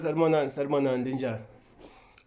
Salmonani, salmonani linjani?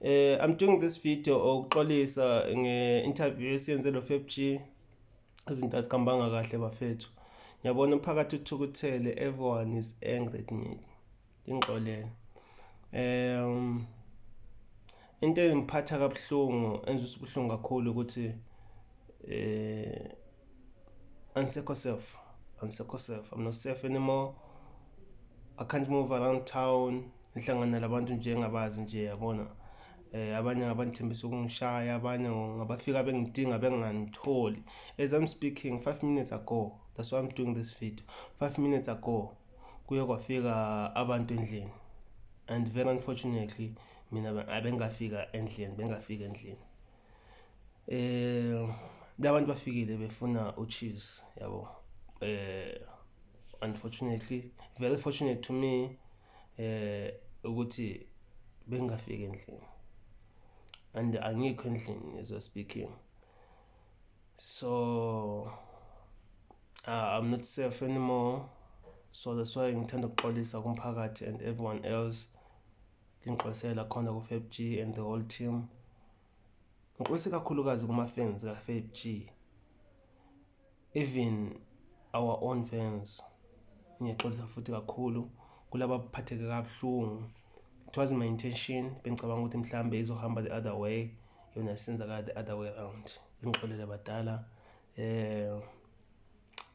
Eh I'm doing this video okuxolisa nge interview esiyenze lo FFG izinto azikhambanga kahle bafethu. Ngiyabona umphakathi uthukuthele everyone is angry at me. Ingxolele. Um into engiphatha kabuhlungu enzisa ubuhlungu kakhulu ukuthi eh angisekho self angisekho self i'm not safe anymore i can't move around town ngihlangana labantu nje engabazi nje yabona eh abanye ngabandithembisa ukungishaya abanye ngabafika bengidinga bengangitholi as i'm speaking 5 minutes ago that's why i'm doing this video 5 minutes ago kuye kwafika abantu endlini and very unfortunately mina abengafika endlini bengafika endlini eh labantu bafikile befuna ucheese yabo eh unfortunately very fortunate to me eh ukuthi bengafika endlini and angikho endlini as we speaking so uh, i'm not safe anymore so that's why ngithanda ukuxolisa kumphakathi and everyone else Nginxosela khona ku Fab G and the whole team. Ngixolise kakhulukazi kuma fans ka Fab G. Even our own fans. Ngiyexolisa futhi kakhulu kulaba baphatheke kabuhlungu. It was my intention bengicabanga ukuthi mhlambe izohamba the other way yona senza ka the other way around. Ngixolele badala. Eh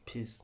peace.